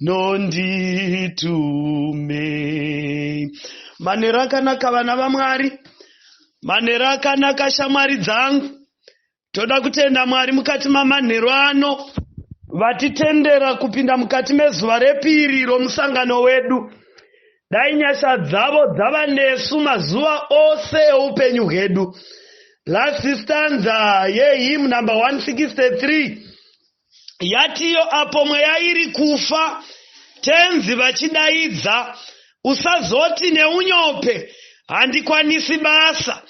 nonditume manhero akanaka vana vamwari manhero akanaka shamwari dzangu toda kutenda mwari mukati mamanhero ano vatitendera kupinda mukati mezuva repiri romusangano wedu dai nyasha dzavo dzava nesu mazuva ose eupenyu hwedu last stanza yehim number 163 yatiyo apo mweya iri kufa tenzi vachidaidza usazoti neunyope handikwanisi basa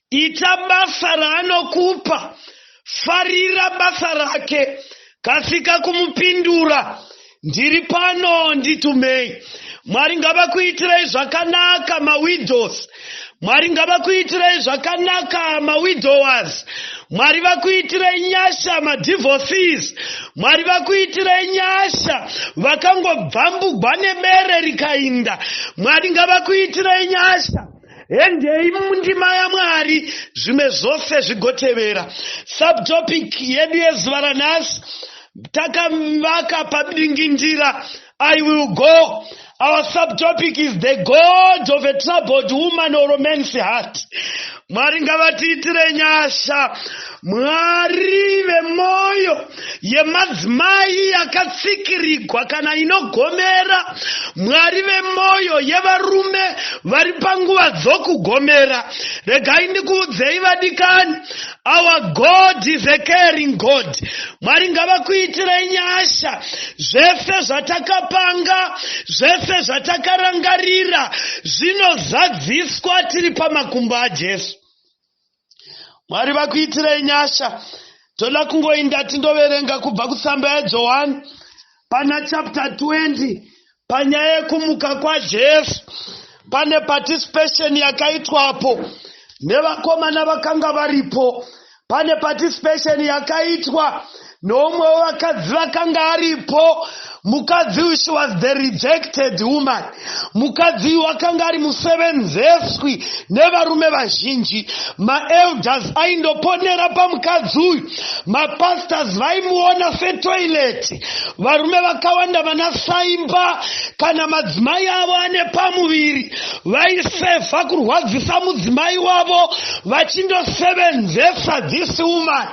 ita basa raanokupa farira basa rake kasika kumupindura Ndiri pano nditumei. Mwari ngavakuitirei zvakanaka mawidows. Mwari ngavakuitirei zvakanaka mawidowers. Mwari vakuitirei nyasha madivorcees. Mwari vakuitirei nyasha vakangobvambugwa nebere rikainda. Mwari ngavakuitirei nyasha. Hendei mundima yaMwari, zvimwe zvose zvigotevera. Subtopic yedu yezuva ranhasi takavaka padingindira I will go. Our subtopic is the God of a troubled woman or man's heart. Mwari ngavatiitire nyasha. Mwari vemoyo. yemadzimai yakatsikirigwa kana inogomera mwari vemwoyo yevarume vari panguva dzokugomera regai ndikuudzei vadikani our god is a caring god mwari ngavakuitirei nyasha zvese zvatakapanga zvese zvatakarangarira zvinozadziswa tiri pamakumbo ajesu mwari vakuitirei nyasha toda kungoinda tindoverenga kubva kutsamba yajohani pana chapter 20 panyaya yekumuka kwajesu pane participation yakaitwapo nevakomana vakanga varipo pane participation yakaitwa Noumwe wevakadzi vakanga aripo, mukadzi uyu she was the rejected woman. Mukadzi uyu wakanga ari musevenzeswi nevarume vazhinji. Maelders aindoponera pamukadzi uyu. Mapastors vaimuona setoileti. Varume vakawanda vana saimba kana madzimai avo ane pamuviri vaisefa kurwadzisa mudzimai wavo vachindosevenzesa this woman.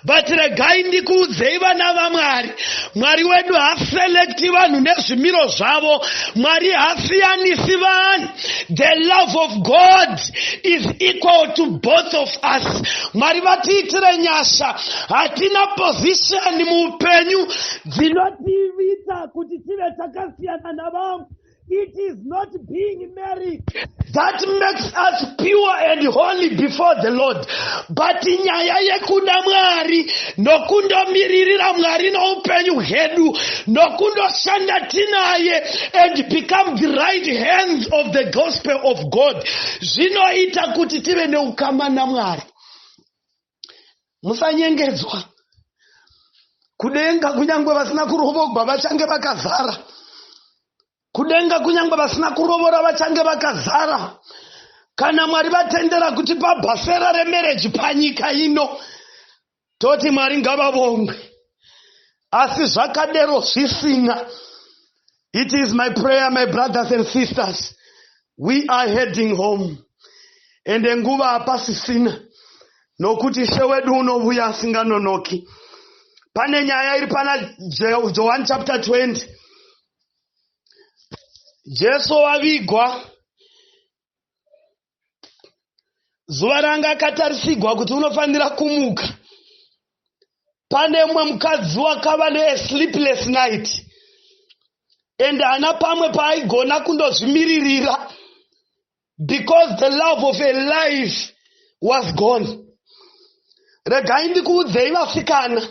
but regai ndikuudzei vana vamwari mwari wedu haselekti vanhu nezvimiro zvavo mwari hasiyanisi vanhu the love of god is equal to both of us mwari vatiitire nyasha hatina pozishoni muupenyu dzinotiivita kuti tive takasiyana navamwe It is not being married that makes us pure and holy before the Lord. But nyaya yekuda Mwari nokundomiririra Mwari noupenyu hwedu nokundoshanda tinaye and become the right hands of the gospel of God zvinoita kuti tive neukama naMwari. Musanyengedzwa. Kudenga kunyangwe vasina kurovogwa vachange vakazara. Kudenga kunyangwe vasina kurovora vachange vakazara. Kana Mwari vatendera kuti pabhasera remereji panyika ino, toti Mwari ngavavongwe. Asi zvakadero zvisina. It is my prayer, my brothers and sisters. We are heading home. Ende nguva hapasisina. Nokuti Ishe wedu unovuya asinganonoki. Pane nyaya iri pana John chapter 20. Jesu wavigwa. zuva ranga akatarisigwa kuti unofanira kumuka pane mumwe mukadzi wakava neasleepless night and haana pamwe paaigona kundozvimiririra because the love of a life was gone regai ndikuudzei vasikana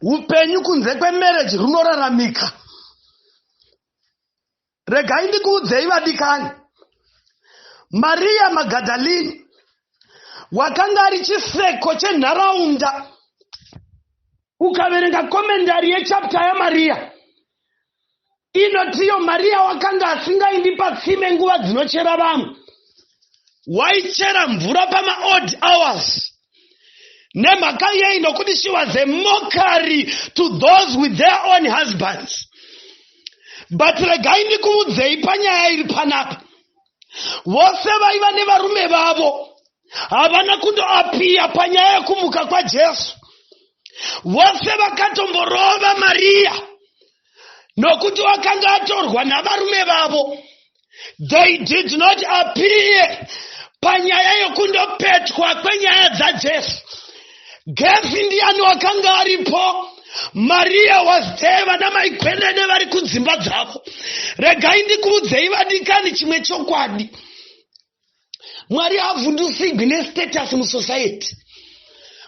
upenyu kunze kwemarriage runoraramika Regai ndikuudzei vadikani, Mariya Magadalini wakanga ari chiseko chenharaunda. Ukaverenga komendari yechapta yaMariya inotiyo Mariya wakanga asingaindi patsime nguva dzinochera vamwe, waichera mvura pamaodd hours nemhaka yei nokuti she was a mockery to those with their own husbands but regai ndikuudzei panyaya iri panapa vose vaiva nevarume vavo havana kundoapiya panyaya yekumuka kwajesu vose vakatomborova mariya nokuti wakanga atorwa navarume vavo they did not appear panyaya yokundopetwa kwenyaya dzajesu gefi ndiyani wakanga aripo mariya was there vana maikwenene vari kudzimba dzavo regai ndikuudzei vadikani chimwe chokwadi mwari havhundusigwi nestatus musociety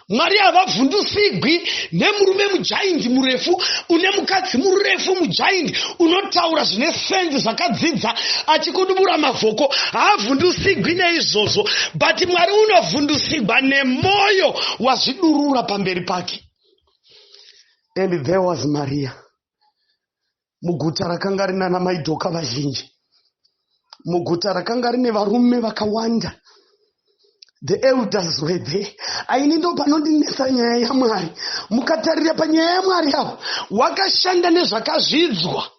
mwari havavhundusigwi nemurume mujaindi murefu une mukadzi murefu mujaindi unotaura zvine sendi zvakadzidza achikudubura mavhoko haavhundusigwi neizvozvo but mwari unovhundusigwa nemwoyo wazvidurura pamberi pake and there was maria muguta rakanga rina na maidoka vazhinji muguta rakanga rine varume vakawanda the elders were there aini ndo panondinetsa nyaya yamwari mukatarira panyaya yamwari avo wakashanda nezvakazvidzwa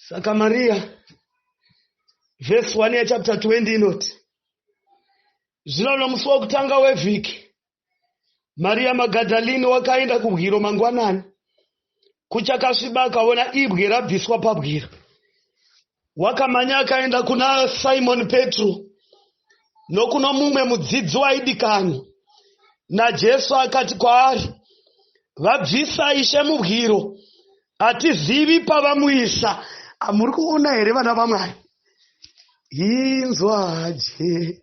saka mariya vhesi 1 yachapter 20 inoti zvino nomusi wokutanga wevhiki Maria Magadalini wakaenda kubwiro mangwanani kuchakasviba akaona ibwe rabviswa pabwiro. Wakamanya akaenda kuna Simon Petro nokuno mumwe mudzidzi waidikanwa naJesu akati kwaari, vabvisa ishe mubwiro, hatizivi pavamuisa. Amuri kuona here vana vaMwari? Inzwa je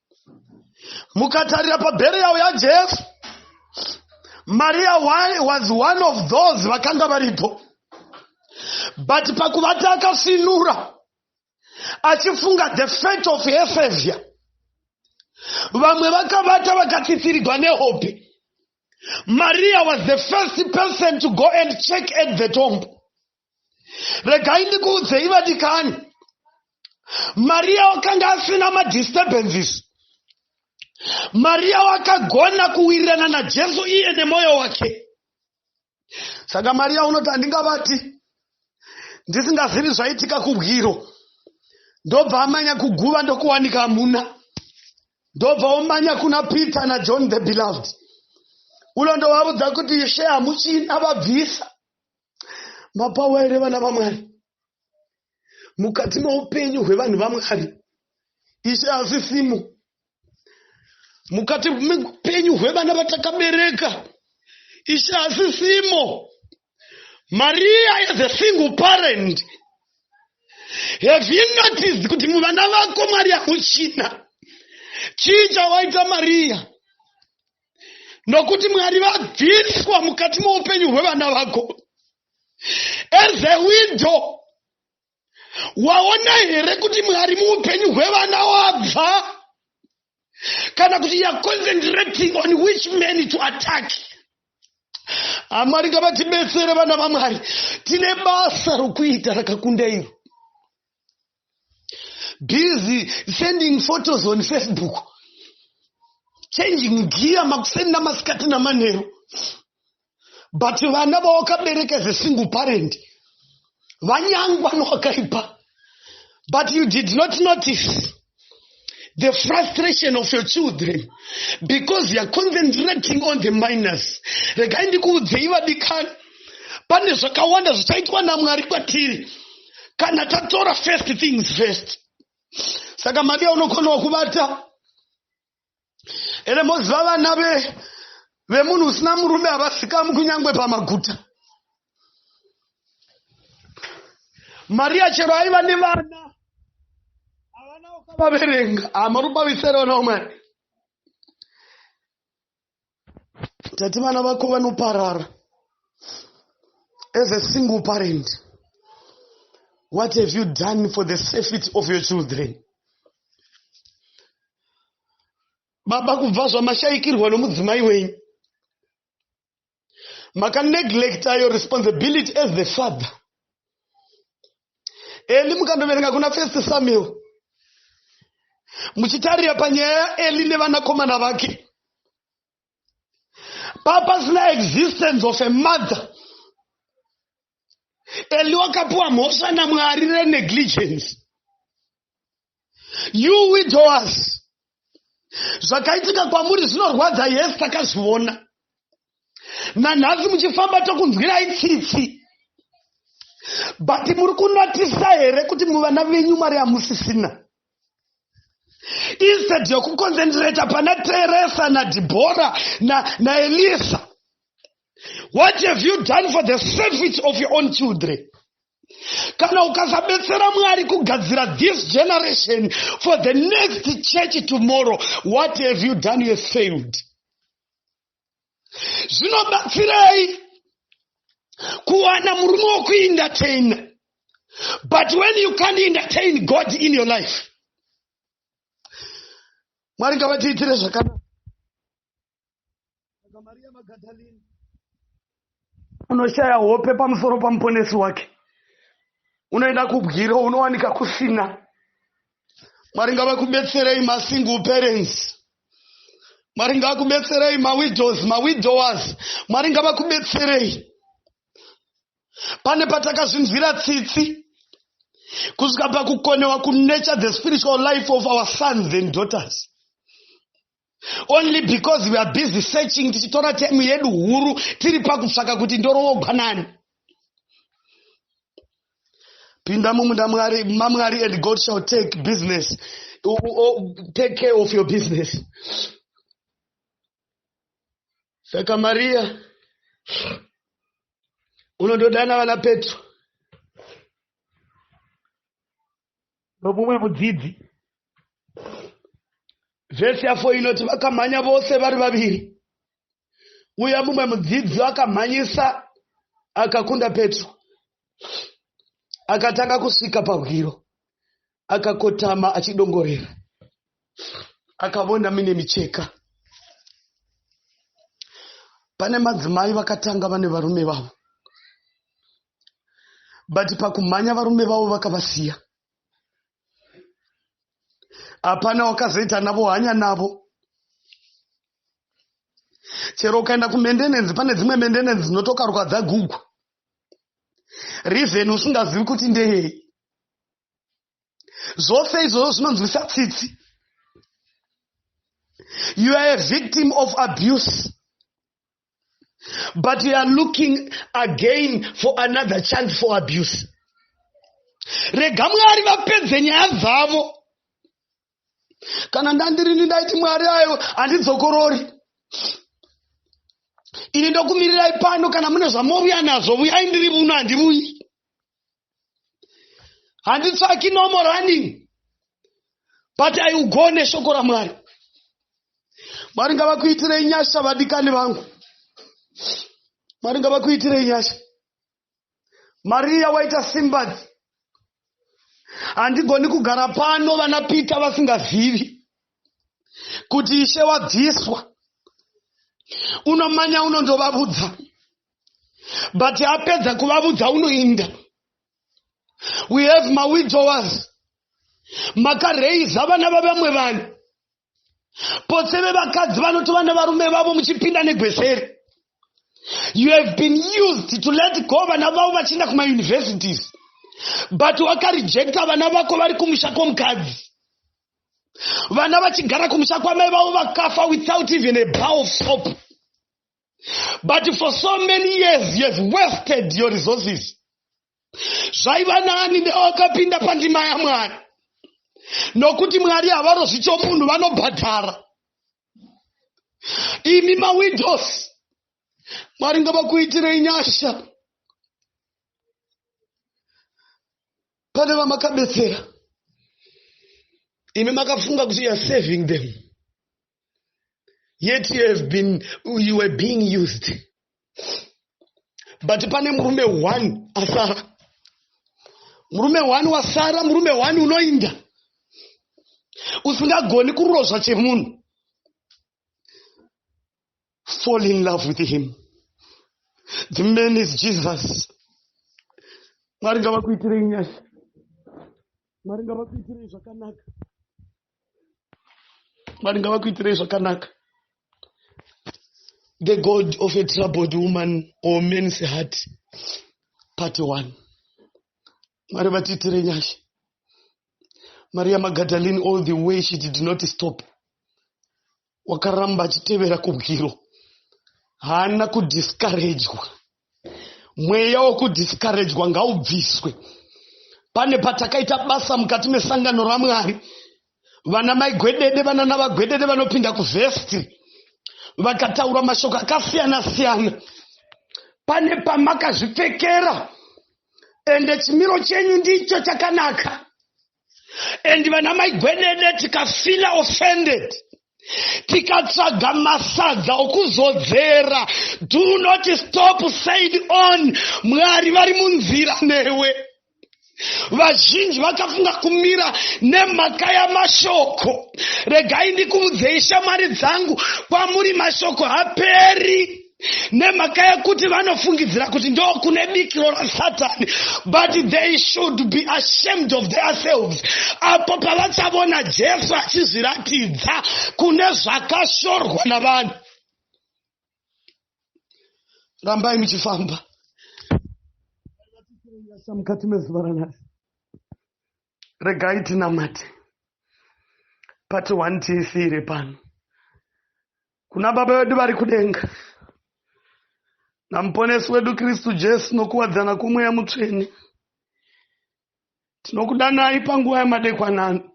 mukatarira pabheriyawo yajesu maria was one of those vakanga varipo but pakuvati akafinura achifunga the fate of efevia vamwe vakavata vakatsitsirigwa nehope maria was the first person to go and check at the tomb regai ndikuudzei vadikani mariya wakanga asina madisturbances mariya wakagona kuwirirana najesu iye nemwoyo wake saka mariya unoti handingabati ndisingazivi zvaitika kubwiro ndobva amanya kuguva ndokuwanika amuna ndobva omanya kuna peter najohn the beloved ulo ndovaudza kuti ishe hamuchina vabvisa mapawa here vana vamwari mukati meupenyu hwevanhu vamwari ishe asisimo mukati meupenyu hwevana vatakabereka ishe asisimo maria as a single parent have you noticed kuti muvana vako mwari hamuchina chii chawaita maria nokuti mwari vabviswa mukati moupenyu hwevana vako as a widow waona here kuti mwari muupenyu hwevana wabva kana kuti youare concentrating on which man to attack amwari ngavatibetsere vana vamwari tine basa rokuita rakakunda iro busy sending photos on facebook changing gear makusenda masikati namanheru but vana vawakabereka as a single parent vanyangwa nowakaipa but you did not notice the frustration of your children because youare concentrating on the minors regai ndikuudzei vadikani pane zvakawanda zvichaitwa namwari kwatiri kana tatora first things first saka madiya unokonawo kubata ende moziva vana ve vemunhu usina murume havasikamu kunyange pamaguta mariya chero aiva nevana havana ukavaverenga hamarubavisere vana vamwari tati vana vako vanoparara as a single parent what have you done for the safety of your children baba kubva zvamashaikirwa nomudzimai wenyu makaneglecta your responsibility as the father eli mukandoverenga kuna first samuel muchitarira panyaya yaeli nevanakomana vake papasina existence of a mother and wakapiwa mhosva namwari renegligence you widowers zvakaitika kwamuri zvinorwadza yes takazviona nanhasi muchifamba tokunzwirai tsitsi but muri kunatisa here kuti muvana venyu mari hamusisina instead yokuconcentrata pana teresa nadibhora naelisa na what have you done for the service of your own children kana ukasabetsera mwari kugadzira this generation for the next church tomorrow what have you done you failed zvinobatsirei kuwana murume wokuindateina but when you can't entertain god in your life mwari ngavatiitire zvakanaka saka mariya magadalini unoshaya hope pamusoro pamuponesi wake unoenda kubwiro unowanika kusina mwari ngavakubetserei masingle parents mwari ngavakubetserei mawidows mawidowers mwari ngavakubetserei pane patakazvinzwira tsitsi kusvika pakukonewa kunecha the spiritual life of our sons and daughters only because we are busy searching tichitora time yedu huru tiri pakutsvaka kuti ndoroogwa nani pinda mumunda mwari mamwari and god shall take business o, o, take care of your business saka mariya unondodana vana petro nomumwe mudzidzi vhesi yafo inoti vakamhanya vose vari vaviri uye mumwe mudzidzi akamhanyisa akakunda petro akatanga kusvika pahwiro akakotama achidongorera akavona mine micheka pane madzimai vakatanga vane varume vavo but pakumhanya varume vavo vakavasiya hapana wakazoita navo hanya navo chero ukaenda kumendenenzi pane dzimwe mendenenzi dzinotokarwa dzagugwa reason usingazivi kuti ndeyei zvose izvozvo zvinonzwisa tsitsi you are a victim of abuse but you are looking again for another chance for abuse rega mwari vapedze nyaya dzavo kana ndandirini ndaiti mwari ayo handidzokorori ini ndokumirirai pano kana mune zvamovuya nazvo vuyai ndiri muno handivuyi handitsvaki normal running but i will go neshoko ramwari mwari ngavakuitirei nyasha vadikani vangu mwari ngavakuitirei nyasha mariya waita simbadzi handigoni kugara pano vana pita vasingazivi kuti ishe wabviswa unomanya unondovavudza but apedza kuvavudza unoinda we have mawidowers makareiza vana vavamwe vanhu potse vevakadzi vanoti vana varume vavo muchipinda negweseri you have been used to let go vana vavo vachienda kumauniversities but wakarejecta vana vako vari kumusha kwomukadzi vana vachigara kumusha kwamai vavo vakafa without even a bow of soap but for so many years you have wasted your resources zvaiva nani newakapinda pandima yamwari nokuti mwari havarozvi chomunhu vanobhadhara imi mawidos mwari ngavakuitirei nyasha pane vamakabetsera imi makafunga kuti youare saving them yet you have been you were being used but pane murume one asara murume one wasara murume one unoinda usingagoni kurozva chemunhu fall in love with him the man is jesus mwari ngavakuitirei nyasha mwari ngavakuitirei zvakanaka mwari ngavakuitirei zvakanaka the god of a troubled woman or man's heart part one mwari vatiitire nyasha maria magadalene all the way she did not stop wakaramba achitevera kubwiro haana kudiskarejwa mweya wokudiskarejwa ngaubviswe pane patakaita basa mukati mesangano ramwari vana maigwedede vana navagwedede vanopinda kuvhesti vakataura mashoko akasiyana siyana pane pamakazvipfekera ende chimiro chenyu ndicho chakanaka and vana mai gwenene tikafila offended tikatsvaga masadza okuzodzera do not stop said on mwari vari munzira newe vazhinji vakafunga kumira nemhaka yamashoko regai ndikuudzei shamwari dzangu kwamuri mashoko haperi nemhaka yekuti vanofungidzira kuti ndo kune bikiro rasatani but they should be ashamed of theirselves apo pavachavona jesu achizviratidza kune zvakashorwa navanhu rambai muchifamba mukati mezuva ranhasi regai tinamate pati one tisiire pano kuna Baba vedu vari kudenga naMuponesi wedu Kristu Jesu nokuwadzana kwomweya mutsvene. Tinokudanai panguva yamadekwanano.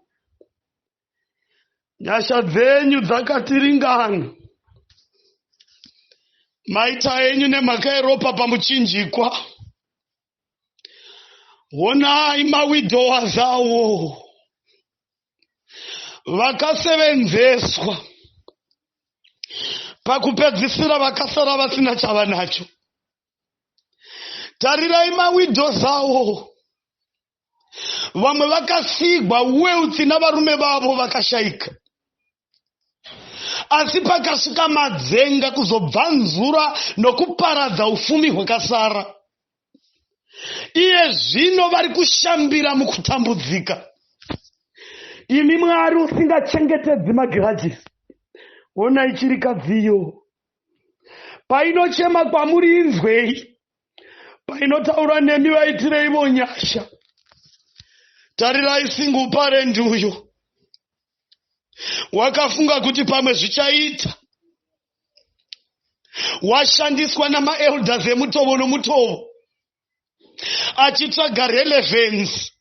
Nyasha dzenyu dzakatiringana. Maita enyu nemhaka yeropa pamuchinjikwa. honai mawidhowa zawo vakasevenzeswa pakupedzisira vakasara vasina chava nacho tarirai mawidho zawo vamwe vakasigwa wealth navarume vavo vakashaika asi pakasvika madzenga kuzobvanzura nokuparadza ufumi hwakasara iye zvino vari kushambira mukutambudzika imi mwari usingachengetedzi magirajisi onai chirikadziyo painochema kwamuri inzwei painotaura nemi vaitireivo nyasha tarirai singuparendi uyo wakafunga kuti pamwe zvichaita washandiswa namaelders emutovo nomutovo achitsvaga relevansi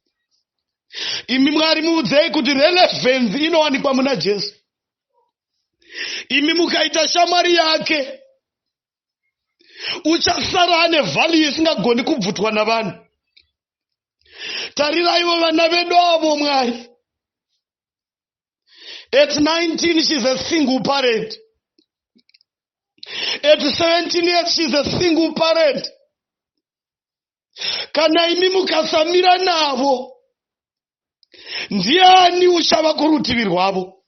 imi mwari muudzei kuti relevansi inowanikwa muna jesu imi mukaita shamwari yake uchasara ane vhalue isingagoni kubvutwa navanhu tariraivo vana vedu avo mwari at 19 shes a single parent at 17 years shes a single parent kana imi mukasamira navo ndiani uchava kurutivi rwavo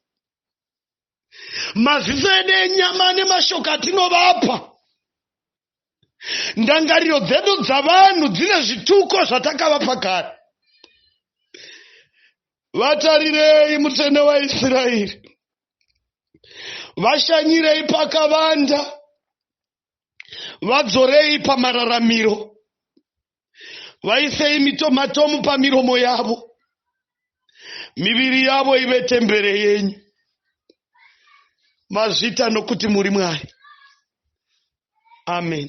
maziso edu enyama nemashoko atinovapa ndangariro dzedu dzavanhu dzine zvituko zvatakavapa kare vatarirei mutsvene waisraeri vashanyirei pakavanda vadzorei pamararamiro, vaisei mitomatomu pamiromo yavo, miviri yavo ive tembere yenyu. Mazvita nokuti muri Mwari. Amen.